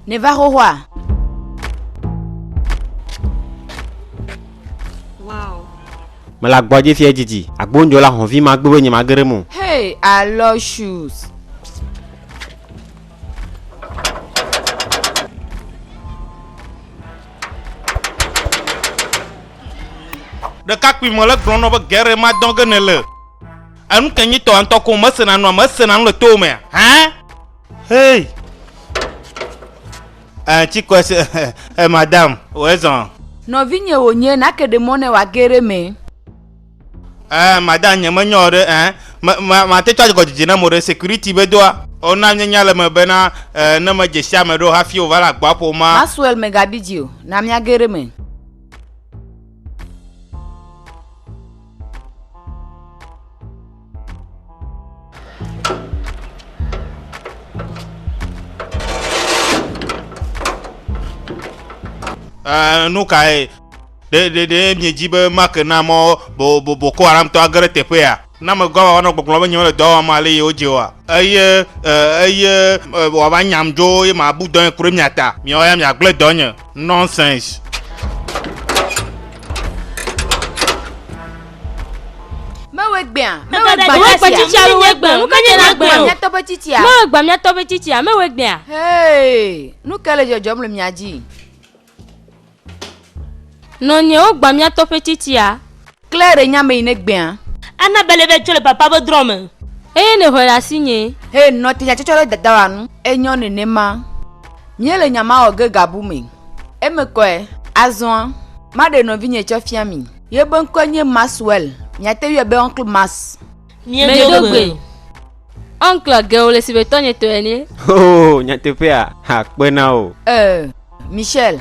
Nèva xoxoa? Wow. Mele agbɔdzi fiɛ dzidzi. Agbonjo la hɔvi ma gbogbo nye ma gere mo. Hey, I love shoes. ɖekakpui me le gblɔnɔ be gɛrɛ ma dɔn ge ne le enu ke nyitɔ ŋutɔ ko mesena nua mesena nu le to mea hã Hey! Eh, ci kɔe se, eh, madame, wòe zɔn. Nɔvinye wònye, nake ɖe mɔ ne wòage ɖe me. Eh, madame, nye me nyɔ ɖe, eh, me, ma, mate tsɔ agɔdzedze na mo ɖe security be doa. O na nye nya le me be na, eh, ne me dze sia me ɖo hafi wòva le agboa ƒo ma. Maxwell me ga bi dzi o, na miage ɖe me. Eh, nu kae ɖe ɖe ɖe miedzi be make na mɔ bo bo boko haramtɔ age ɖe teƒea na megɔ awa wanɔ gbɔgblɔ be nyemele dɔ wɔm ale ye wodze oa eye eh, eye eh, wòava nyam dzo ye mabu dɔnye ku ɖe mia ta miawo ya miagblẽ dɔnye Nonsense. Mewe gbea, mewe gbea, mewe gbea, tsitsia, mewe gbea, nu ka nye na gbea? Mewe miatɔ be tsitsia. Mewe gbea, miatɔ be tsitsia, mewe gbea. Hey, nu ka le dzɔdzɔm le mia dzi? Nɔnyewo gbea miatɔ ƒe tsitsia. Klẽ ɖe nya me yi ne gbea. Ana be leve tso le papa be drɔ me. Eye ne ŋɔe ɖe asinye. Eye nɔ te tsɔtsɔ ɖe dada wa nu. Enyɔ nenema. Mía le nya ma wɔ ge gabu me. Eme kɔe. Azɔa, maɖe nɔvinye tsɔ fia mi. Ye be ŋkɔe nye Maxwell. Miate ŋui be Uncle Max. Mie do gbe. Uncle ge wole si be tɔnye tɔe ene. Hoo nyateƒea ha kpe na wo. Eeh Michelle.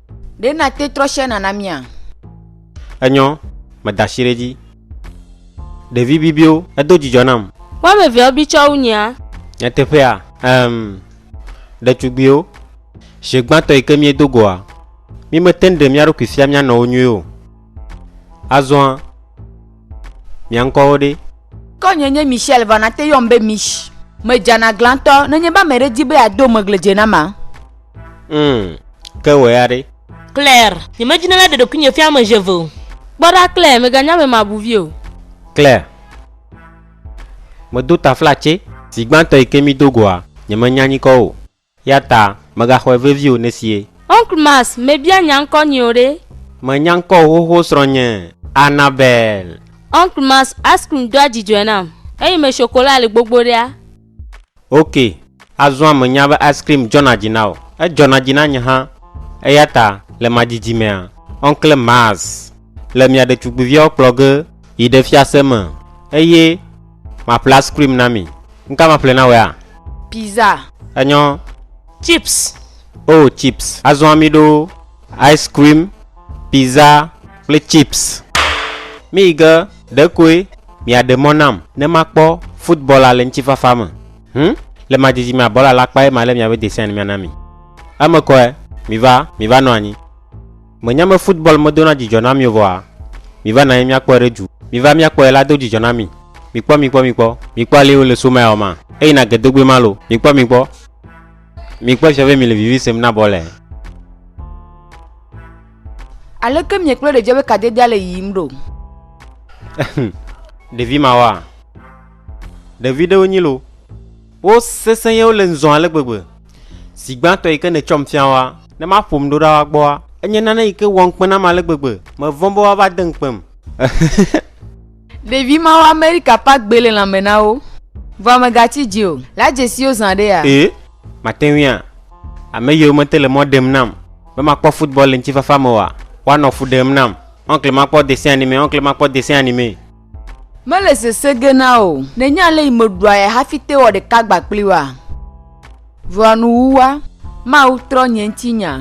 Ɖe nàte trɔ share nana mía? Enyɔ, meda ashi ɖe edzi. Ɖevi bibiwo, edo dzidzɔ nam. Woameveawo bi tsɔ wu nyea? Nyateƒea? Em. Ɖetugbiwo, ʒe gbãtɔ yi ke míedo goa, mímetɛnŋ ɖe mía ɖokui fia mía nɔwo nyuie o. Azɔa? Mia ŋkɔwo ɖe? Kɔ nye nye Michelle va nate yɔm be Mich. Me dzana gla ŋtɔ nenye be ame ɖe di be ya do megle dze nama. Umm ke wɔ ya ɖe? Claire, nye me dzina la ɖe ɖokui nye fia ame eve o. Kpɔ ɖa Claire, me ga nya be ma bu vi o. Claire, me do taflatse. Zi gbãtɔ yi ke mi do goa, nye me nya nyikɔ o. Ya ta mègaxɔe vevi o nesie. Oncle Mass mebia nya ŋkɔ nyeo ɖe. Menya ŋkɔ o xoxo srɔ̃nye Annabelle. Oncle Mass ice cream doa dzidzɔe nam eye me chocolat le gbogbo ɖea. Ok azɔa menya be ice cream dzɔna dzi na wò edzɔna dzi na nye hã eyata le ma didi mea Oncle Mass. le mia ɖetugbuiviawo kplɔ ge yi ɖe fiase me eye maƒle ice cream na mi. Nuka maƒle na wòa? Pizza. Enyɔ. Chips. Oh, chips. Azɔ ami ɖo ice cream, pizza kple chips. Míyi ge ɖekoe miaɖe mɔ nam ne makpɔ futbɔla le ŋutifafa me. Hum, le ma didi mea bɔla la kpae malé miabe desia ne miana mi. Eme kɔe. Miva, miva nɔ anyi. Mènya be football medona dzidzɔ na mi o vɔa? Miva nɔ anyi míakpɔe ɖe du. Miva míakpɔe la do dzidzɔ na mi. Mikpɔ, mikpɔ, mikpɔ. Mikpɔ alee wole so mile ma. Eyina ge dogbe ma lo. Mikpɔ, mikpɔ. Mikpɔ efia be mile vivi sem na bɔl e. Aleke miekpɔe ɖedze be kadedea le yiyim ɖo? Ɖevi mawoa? Ɖevi ɖewo nyi lo. Wo sesẽ ye wole ŋzɔn ale gbegbe. Zi gbãtɔ yi ke nètsɔm fia woa. Ne maƒom ɖo ɖa woa gbɔa. Enye nane yi ke wɔm kpe nam ale gbegbe. Mevɔ̃ be woava de ŋukpem. Ɖevi mawo Amerika ƒe agbe le lãme na wo. Vɔa mègatsi dzi o. La dzesiwo zã ɖe ya. Ee, mate ŋui a. Ame yiwo mete le mɔ ɖem nam. Be makpɔ football le ŋutifafa me oa, woanɔ fu ɖem nam. Oncle makpɔ dessin animé, oncle makpɔ dessin animé. Mele sese ge na wò o. Nènye ale yi meɖua ya hafi te wɔ ɖeka gba kpli woa? Vɔa nuwuwua, Mawu trɔ nye ŋuti nya.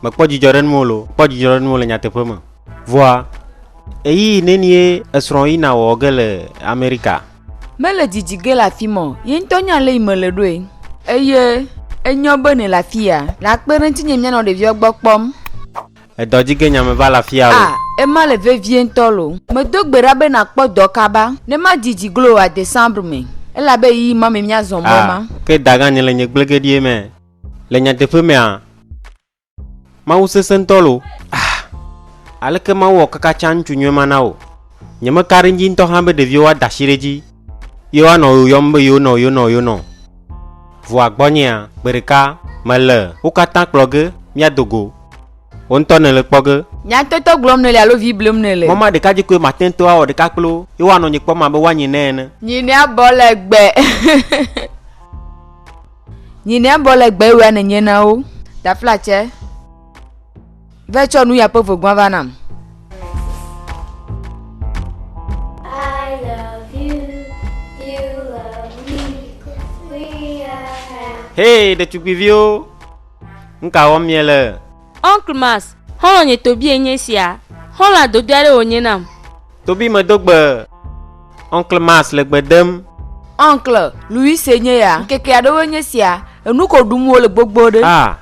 Mekpɔ dzidzɔ ɖe nuwò lo. Kpɔ dzidzɔ ɖe nuwò le nyateƒe me. Vɔa ɣeyiɣi nenie esrɔ̃wò yina wɔ ge le Amerika? Mele didi ge le afi ma o. Ye ŋutɔ nya ale yi mele ɖoe. Eye enyɔ be nèle afi ya. Nàkpe ɖe ŋutinye míanɔ ɖeviawo gbɔ kpɔm. Edɔ dzi ge nya me va la fia o. A, ema le vevie ŋutɔ lo. Medo gbe ɖa be nàkpɔ dɔ kaba, ne madi dzi glo oa, Décembre me, elabe ɣeyiɣi ma me míazɔ mɔ A, ma. ke dagã nye le nye gblegeɖie me. Le nyateƒe mea, Mawu sesẽ ŋutɔ lo. A, aleke Mawu wɔ kaka tsã ŋutsu nyui ma na wò? Nyemeka ɖe ŋdzi ŋutɔ hã be ɖeviwo woada asi ɖe edzi. Ye woanɔ wò yɔm be yonɔ, yonɔ, yonɔ. Vɔa gbɔnyea, gbeɖeka mele wo katã kplɔ ge míado go. Wò ŋutɔ nèle kpɔ ge. Nyatɔtɔ gblɔm nèle alo vi blem nèle? Mɔ maɖeka dzi koe mate ŋu awɔ ɖeka kpli wo, ye woanɔ nye kpɔm abe woanyi ne ene. Nyi ne abɔ legbe. Nyi ne abɔ legbe wea nènye na wo. Taflatse. Ve tsɔ nu ya ƒe vegua va nam. Hey, ɖetugbiviwo, nu ka wɔm miele? Uncle Max, xɔlɔ̃nye Tobie nye esia. Xɔlɔ̃a dodo aɖe wònye nam. Tobie medo gbe. Uncle Max le gbe dem. Uncle Louise nye ya. Ŋkeke aɖewoe nye esia. Enu ko ɖum wole gbogbo ɖe. Ah.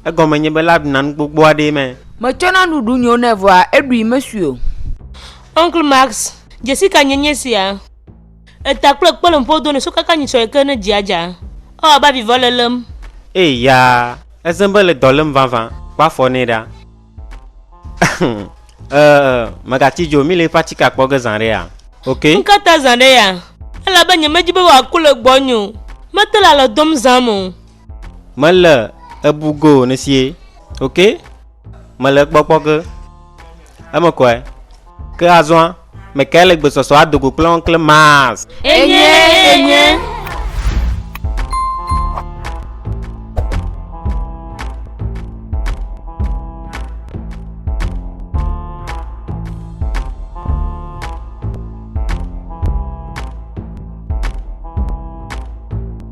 Egɔme nye be lab na nu gbogbo aɖee me. Metsɔ na nuɖuɖu nyewo nɛ vɔa eɖui mesui o. Uncle Max, dzesi ka nye nye sia? Eta kple kpe le ŋƒo do nɛ sukaka nyi sɔe ke ne dzia dza, ewɔ abe avi vɔ le lém. Ee ya, ezẽ be le dɔ lém vavã, kpɔ afɔ nɛ ɖa. Ee, mègatsi dzo, míle eƒe atikea kpɔ ge zã aɖe ya, ok? Nuka ta zã aɖe ya? Elabe nyemedi be wòaku le gbɔnye o. Mete le alɔ dom zãm o. Mele ebu go nesie. Ok? Mele kpɔkpɔ ke. Eme kɔe. Ke azɔa, mekae le gbesɔsɔ adogo kple Oncle Mars? Enye, enye.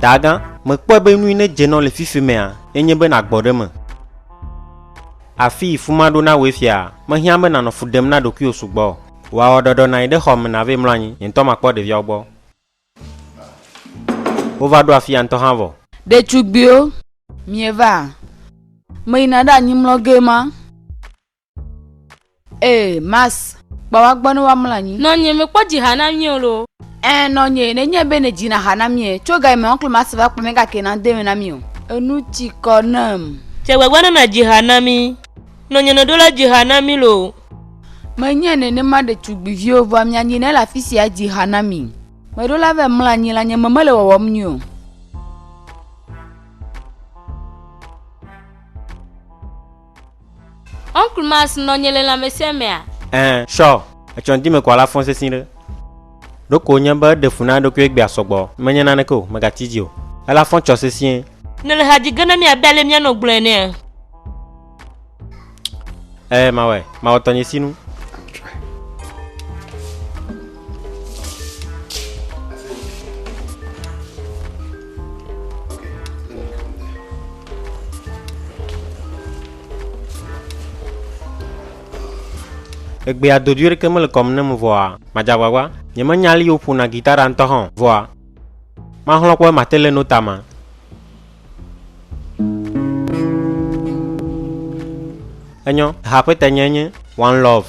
Daagã, mèkpɔe be nui ne dze nɔ le fifi mea, enye be nàgbɔ ɖe eme? Afii fu maɖo na wòe fiaa, mehiã be nànɔ fu ɖem na ɖokuiwò sugbɔ o. Wò awɔɖɔɖɔ nàyi ɖe xɔa me nàvɛ mlɔ anyi, nye ŋutɔ makpɔ ɖeviawo gbɔ. Wova ɖo afia ŋutɔ hã vɔ. Ɖetugbiwo, mievaa? Meyina ɖe anyi mlɔ gee ma. Ee, mas. Kpa wa gbɔ ne wa mla nyi. Nɔ nye me kpɔ dzi ha na mie lo. Ɛ nɔ nye ne nye be ne dzi na ha na mie. Tso ga me oncle mas va kpɔ me ga ke na de me na mie o. Enu tsi kɔ nem. Tse gbagba ne na dzi ha na mi. Nɔ nye ne ɖo la dzi ha na mi lo. Me nye ne ne ma ɖe tsugbi vio vɔ mia nyi ne la fisi a dzi ha na mi. Me ɖo la ve mla nyi la nye me mele wɔwɔm nyi o. Oncle Mass nɔ nye le lãmesẽ mea? Ɛɛ, sɔ. Etsɔ ŋdime ko ala fɔn sesĩ ɖe. Ɖeko wonye be eɖe fu na eɖokui egbea sɔgbɔ. Menye naneke o, megati edzi o. Ela fɔn tsɔ sesĩe. Nèle ha dzi ge na mí abe ale míanɔ gblɔe enea? Ɛɛ, mawɔe. Mawɔ tɔnye sinu. Egbea dodui ɖeke mele kɔm nam vɔa, madze agbagba. Nyemenya ale woƒona gita ɖa ŋutɔ hã o, vɔa maxlɔ̃ kpɔ be mate le nota ma. Enyɔ, ha ƒe tanye nye One Love.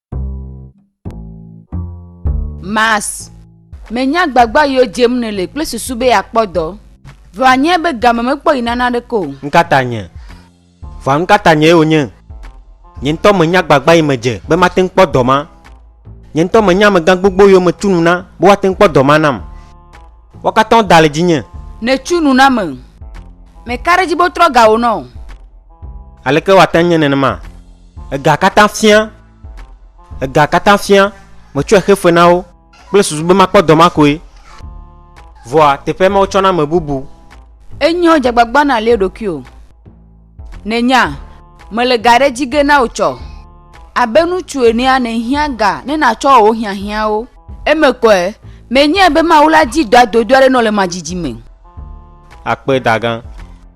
Mas. Menya gbagba yiwo dzem nèle kple susu be yeakpɔ dɔ. Vɔ anyae be game mekpɔ yi nana aɖeke o. Nukata nye? Vɔa nukata nyee wònye? Nye ŋutɔ menya gbagba yi medze be mate ŋu kpɔ dɔ ma. Nye ŋutɔ menya amegã gbogbo yiwo metu nu na be woate ŋu kpɔ dɔ ma nam. Woa katã woda le dzinye. Nètu nu nam. Meka ɖe edzi be wotrɔ ga wò na wò. Aleke wòate ŋu nye nenema? Ega katã fia, ega katã fia, metsɔe xe fe na wo kple susu be makpɔ dɔ ma koe. Vɔa teƒe ma wotsɔna ame bubu. Enyo dzagbagba nàlie ɖokuiwò. Nènya, mele ga ɖe edzi ge na wò tsɔ. Abe ŋutsu enea nèhiã ga ne nàtsɔ wò hiahiãwo. Eme kɔe, menyae be Mawu la di dɔa dodo aɖe nɔ le madzidzi me. Akpe, dagã.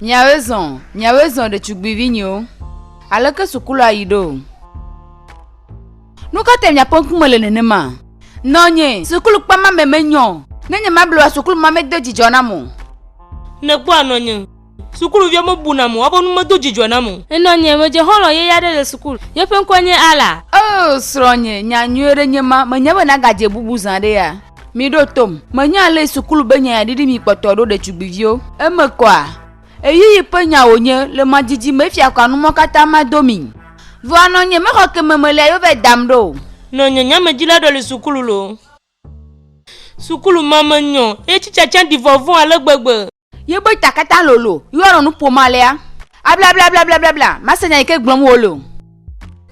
Miawoe zɔ, miawoe zɔ ɖetugbuivinyewo. Aleke sukulɔa yi ɖo? Nu ka tae miaƒe ŋkume le nenema? Nɔnye, sukulukpe ma me menyɔ o. Ne nyemable oa, sukulu ma medo dzidzɔ nam o. Nèkpɔa nɔnye, sukuluviwo mebu nam o. Woaƒe nu medo dzidzɔ nam o. Nɔnye, medze xɔlɔ̃ yeye aɖe le sukulu. Yeƒe ŋkɔe nye Ala. Oo, srɔ̃nye, nya nyui aɖe nye ma. Menya be nàgadze bubu zã ɖea? Miɖo tom, menya ale sukulu be nyanya ɖiɖi mi kpɔtɔ ɖo ɖetugbiviwo. Eme kɔa? Ɣeyiɣi ƒe nya wònye, le ma didi me efia kɔa numɔ katã ma do mi. Vɔa nɔ nye mexɔ ke me melia yo vɛ dam ɖo o. Nɔ nye nyamedzila ɖɔ le sukulu lo. Sukulu ma me nyɔ, ye tsitsatsa ɖi vɔvɔ̃ ale gbegbe. Ye be ta katã lolo, ye woanɔ nu ƒom alea? Ablablablablabla, mase nya yi ke gblɔm wole o.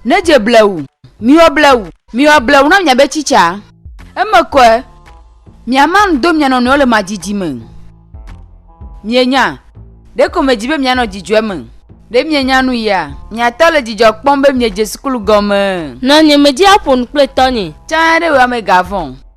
Nedze blewu, miwɔ blewu, miwɔ blewu na miabe tsitsaa. Eme kɔe, miama nu do mia nɔnɔewo le madidi me. Mienya, ɖeko medzi be mianɔ dzidzɔe me. Ɖe mienya nu ya? Mia tɔ le dzidzɔ kpɔm be miedze sukulu gɔmee. Nɔnye medzi aƒo nu kple tɔnye. Tsã ɖe wò amega vɔ̃.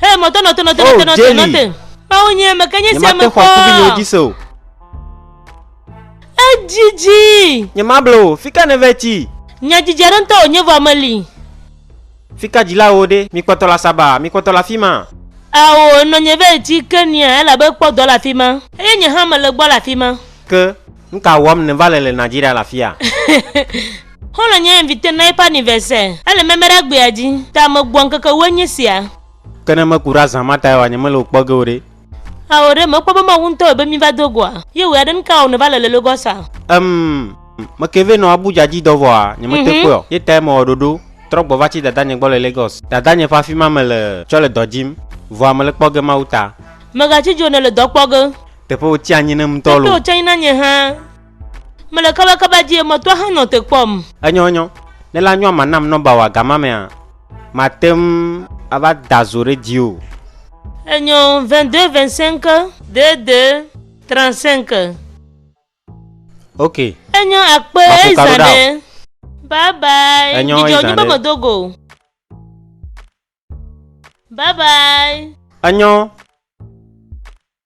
Hey, moto, noto, noto, oh, noto, noto, noto. Awo nye eme ke nye si ame kpɔ. Nyemate xɔ kubi yewo dzi se o. Edzidzi. Nyemable o, fi ka ne ve tsi? Nyadzidzi aɖe ŋutɔ wònye vɔ meli. Fikadzilawo ɖe? Mi kpɔtɔ le asaba? Mi kpɔtɔ le afi ma? Ao, nɔnye va yi tsi ke nia, elabe kpɔ dɔ le afi ma. Eye nye hã mele gbɔ le afi ma. Ke, nu ka wɔm nèva le le Nigeria le afia? Xɔlɔ̃ nye inviter na eƒe anniversaire. Ele meme ɖe agbea dzi. Ta megbɔ ŋkeke ewoe nye sia. Ke ne meku ɖe azã ma tae oa, nyemele wò kpɔ ge o ɖe? Ao, ɖe mèkpɔ be Mawu ŋutɔe be míva do goa? Ye ɣe aɖe nu ka ao nèva le le Lagos a? Em, meke vɛ nɔ Abuja dzi dɔ vɔa, nyemete kpɔe o. Ye tae mewɔ ɖoɖo trɔ gbɔ va tsi dadanye gbɔ le Lagos. Dadanye ƒe afima mele tsɔ le dɔ dzim, vɔa mele kpɔ ge Mawu ta. Mègatsi dzo o ne èle dɔ kpɔ ge. Teƒe wòtsi anyi nam ŋutɔ loo. Teƒe wòtsi anyi na nye hã. Mele kabakaba dzi emetɔ hã nɔ te kpɔm. Enyɔ enyɔ. Ne la nyɔa ma nam nɔmba wa gama mea ma tem ava da zo ɖe dzi o. Enyɔ 22 25 22 35. Ok. Enyɔ akpe eyi zã ɖe. Bye bye. Enyɔ eyi zã ɖe. Dzidzɔ nyi be me do go. Bye bye. Enyɔ.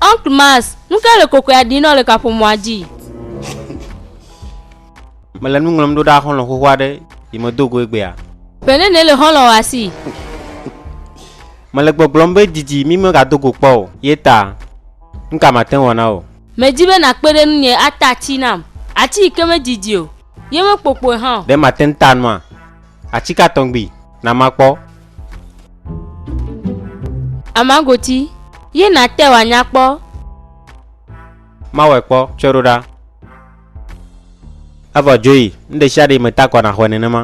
Oncle Mass, nu ka le kokoea ɖi nɔ le kaƒomɔa dzi? Mele nu ŋlɔm ɖo ɖa xɔlɔ̃ xoxo aɖe yi medo go egbea. Ƒe nene le xɔlɔ̃ wòa si? Mele gbɔgblɔm be didi mi megado go kpɔ o ye ta. Nu ka mate ŋu wɔ na wò? Medi be nàkpe ɖe ŋunye ata ati nam, ati yi ke medidi o, ye mekpokpoe hã o. Ɖe mate ŋu ta nua? Ati ka tɔgbi na makpɔ? Amagoti, ye nàte wòanya kpɔ. Mawɔe kpɔ tsɔe ɖo ɖa. Evɔ dzoyi, nu ɖeshiaɖe yi meta kɔ naxɔe nenema.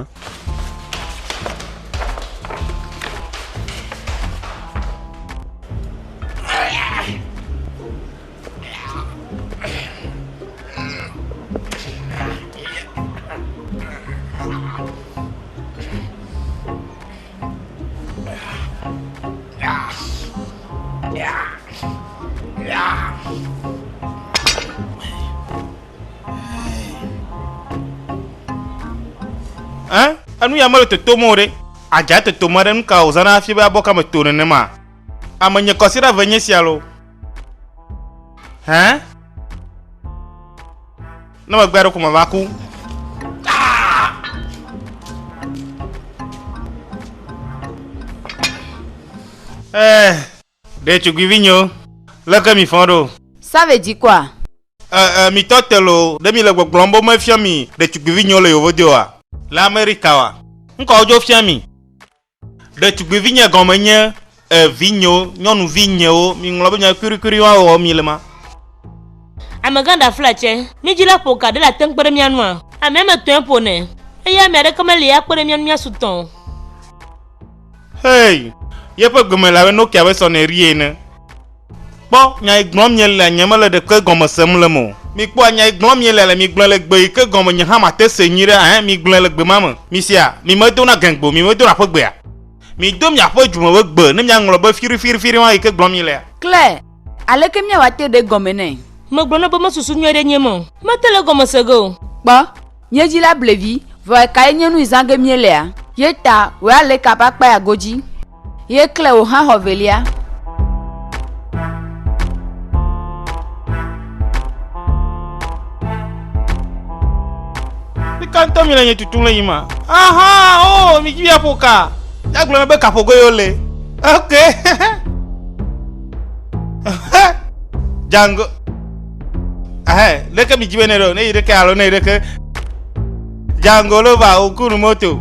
enu ya mele totom o ɖe adza totom aɖe nu ka wòzãna hafi be abɔ kame to nenema amenye kɔsiɖa ve nye sia lo Hɛn? Ne megbe aɖe ko me va ku. Ɛɛ, eh, ɖe tugbivi nyo, leke mi fɔ ɖo? Save dzikɔa? Ɛɛ, eh, eh, mi tɔ te lo, ɖe mi le gbɔgblɔm bo me fiɔ mi ɖe tugbivi nyo le yovo deoa? Le Amerika wa? Ŋkɔ odzo fiɔ mi? Ɖetugbivinye gɔme nye e vinyewo, nyɔnuvi nyewo, miŋlɔ be nya kuɖikuɖi ma wɔwɔ mile ma. Amegã ɖaflatsɛ, mi dzi la ƒo ka ɖe la te ŋu kpe ɖe mía ŋua? Ame ame etɔ̃e ƒonɛ, eye ame aɖeke meli akpe ɖe mía ŋu míasu tɔ̃ o. Hey! Yeƒe gbe me le abe Nokia ƒe sɔnɛri ene. Kpɔ nya yi gblɔm mielea, nyemele ɖeke gɔme sem le eme o. Mikpɔa nya yi gblɔm mielea le, migblɔe le gbe yi ke gɔme nye hã mate see nyuiɖe, ɛ̃, migblɔe le gbe ma me. Misea? Mimedona gɛ̃gbe o, mimedona ƒe gbea? Mido miaƒe dzume ƒe gbe, ne miaŋlɔ be fiɖifiɖifiɖi ma yi ke gblɔm mielea. Claire, Aleke míawɔ ate ɖe egɔme nɛ? Megblɔna be mesusu nyuie ɖe enyim o. Mete le egɔme se ge o. Kpɔ, nye dzila ble vi, vɔ ekae nye nu yi zã ge míelea? Ye ta, wòe aleka ƒe akpa ya godzi. Ye kle wò hã xɔ velia. Nika ŋutɔ mi le nye tutum le yi ma. Aha, oh, mi dzi aƒo ka. Ya gblɔ be kaƒogoe yo le. Ok. Django. Ahɛ, ɖeke mi dzi be ne ɖo, ne yi ɖeke alo ne yi ɖeke. Django lova, okunu moto.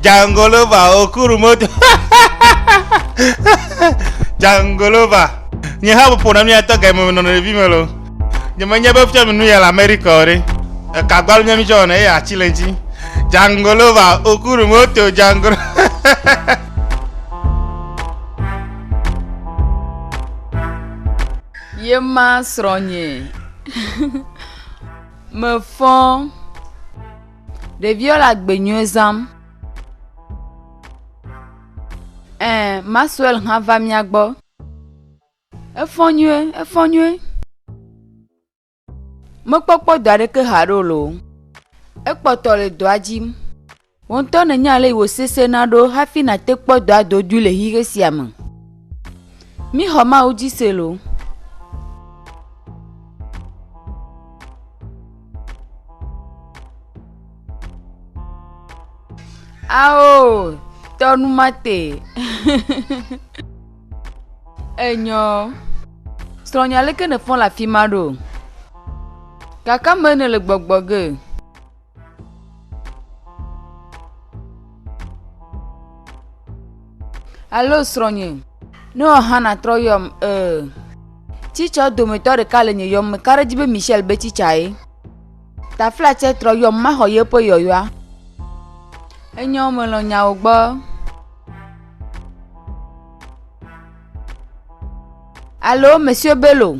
Jangolova okuru moto. Jangolova. Nye ha ƒoƒo na nu ya tɔ ga me nɔ ɖevi me lo. Nye menye be fia mi nu ya le Amerika o ɖe. Eka gbalu nye mi tsɔ wɔna eye atsi le ŋtsi. Jangolova okuru moto jangolo. Yema srɔ̃nyee. Mefɔ. Ɖeviwo le agbenyuie zãm. Ẽ, Maxwell hã va mía gbɔ. Efɔ nyuie, efɔ nyuie. Mekpɔkpɔ dɔ aɖeke haɖe o loo. Ekpɔtɔ le dɔa dzi. Wò ŋutɔ nènya ale si wòsesẽna ɖo hafi nàte kpɔ dɔadodoe le xixe sia me. Mixɔ Mawu dzi se loo. Ao, tɔ nu ma te. Enyɔ. Srɔ̃nye aleke nèfɔ le afi ma ɖo? Kakame nèle gbɔgbɔ ge. Alo srɔ̃nye, ne wɔ hã nàtrɔ yɔm ee. Tsitsɔ dometɔ ɖeka le nye yɔm me ka ɖe dzi be Michel be tsitsa ye. Taflatse trɔ yɔm maxɔ yeƒe yɔyɔa. Enyo melɔ̃ nyawo gbɔ. Alo Monsieur Bello.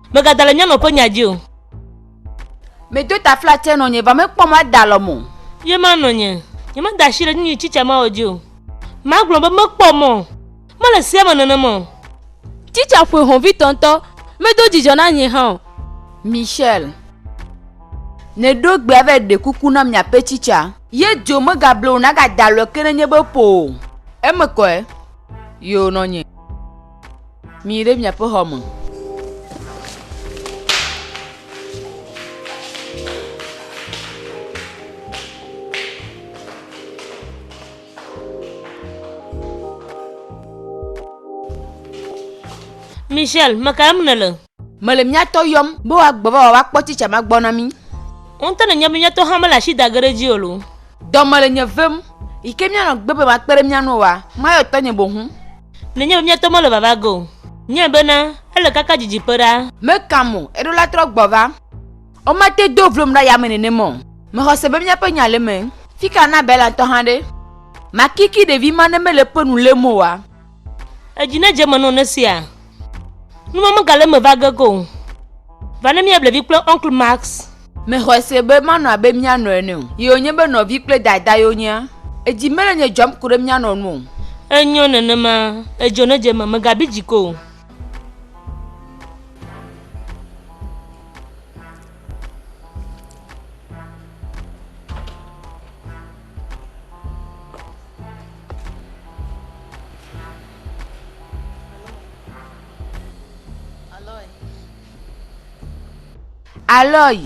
Megada le nyɔnua ƒe nya dzi o. Medo taflatse nɔ nye, vɔ mekpɔ mɔ ada alɔm o. Ye ma nɔ nye, nyemeda asi ɖe nyinyi tsitsia mawɔ dzi o. Magblɔ be mekpɔ mɔ, mele sea me nenem o. Tsitsia ƒoe hɔ̃vitɔ ŋutɔ, medo dzidzɔ na nye hã o. Michelle, neɖo gbea vɛ ɖe kuku na miaƒe tsitsia. Ye dzo megable o, nagada alɔe ke ne nye be ƒo o. Eme kɔe ye wònɔ nye. Miyi ɖe miaƒe xɔ me. Michelle, meka lém nèle? Mele mía tɔ yɔm. Be woagbe va woakpɔ tsitsa ma gbɔ na mí. Ŋutɔ nenye be mía tɔ hã mele asi da ge ɖe edzi o loo. Dɔ mele nye vem. Yi ke míanɔ gbe be makpe ɖe mía ŋu oa, mayɔ tɔnye boŋu. Nenye be mía tɔ mele vava ge o. Nye bena, ele kaka didiƒe ɖaa. Meka mo, eɖo la trɔ gbɔ va. Womate do vlom ɖe yame nenema o. Mexɔ se be míaƒe nya le eme. Fika na Bela ŋutɔ hã ɖe? Makiki ɖevi ma ne mele eƒe nu lém oa? Edzi nedze eme nɔ ne sia nu ma megale eme va ge go o. Va ne míable vi kple Uncle Max. Mexɔe se be manɔ abe mía nɔ ene o. Ye wònye be nɔvi kple dada ye wonyea? Edzi mele nye dzɔm ko ɖe mía nɔ nu o. Enyo nenema. Edzɔ nedze eme. Mègabi dzi ko o. Aloy.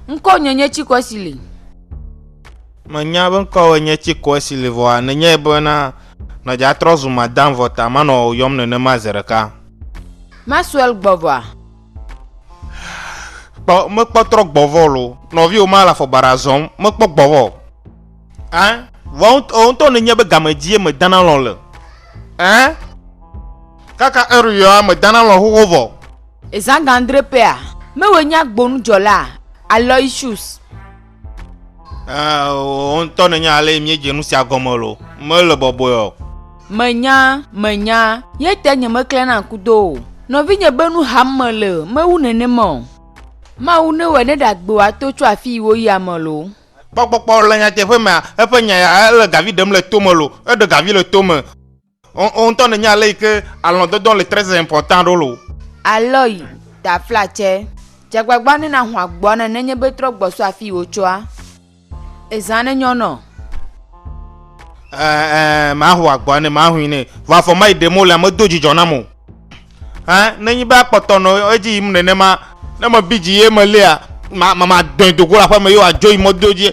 Ŋkɔ nye nye tsi kɔsi li. Menya be ŋkɔwòe nye tsi kɔsi li vɔa nenyae bena nɔdza trɔ zu madam vɔ ta manɔ wò yɔm nenema zi ɖeka. Maxwell gbɔ vɔa? Kpɔ mekpɔ trɔ gbɔvɔ lo. Nɔvi wo ma le afɔ baɖa zɔm mekpɔ gbɔvɔ. Ɛ vɔ wo ŋutɔ ne nye be game dzie me dana lɔ le. Ɛ kaka eri yɔa me dana lɔ xoxo vɔ. Ezã gandre pɛa, mewɔ nya gbonu dzɔlaa, Aloysius. Wò ŋutɔ nènya ale míedze nu sia gɔme lo, mele bɔbɔe o. Menya, menya, yete nyemeklẽ na kudo o. Nɔvinye be nu ham mele, mewu nenema o. Mawu newɔe ne ɖagbe wòato tso afii woyia me lo. Kpɔ kpɔkpɔ le nyateƒe mea? Eƒe nya ya ele gavi ɖem le tome lo, eɖe gavi le tome. Wò ŋutɔ nènya ale yi ke alɔ̃dɔdɔ le très important ɖo lo. Aloy, taflatsɛ, dze agbagba ne nàho agboa ne nenye be trɔ gbɔ so afii wòtsoa. Ezã ne nyɔ nɔ. Ɛ, ɛ, maho agboa ne mahui nɛ, vɔ afɔ mayi ɖem wole, medo dzidzɔ nam o. Ɛ, ne nyi be akpɔtɔ nɔ edzi yim nenema. Ne mebi dzi ye melia, ma, ma, madɔe do go le aƒeme ye wòadzo yi mɔdodo dzi.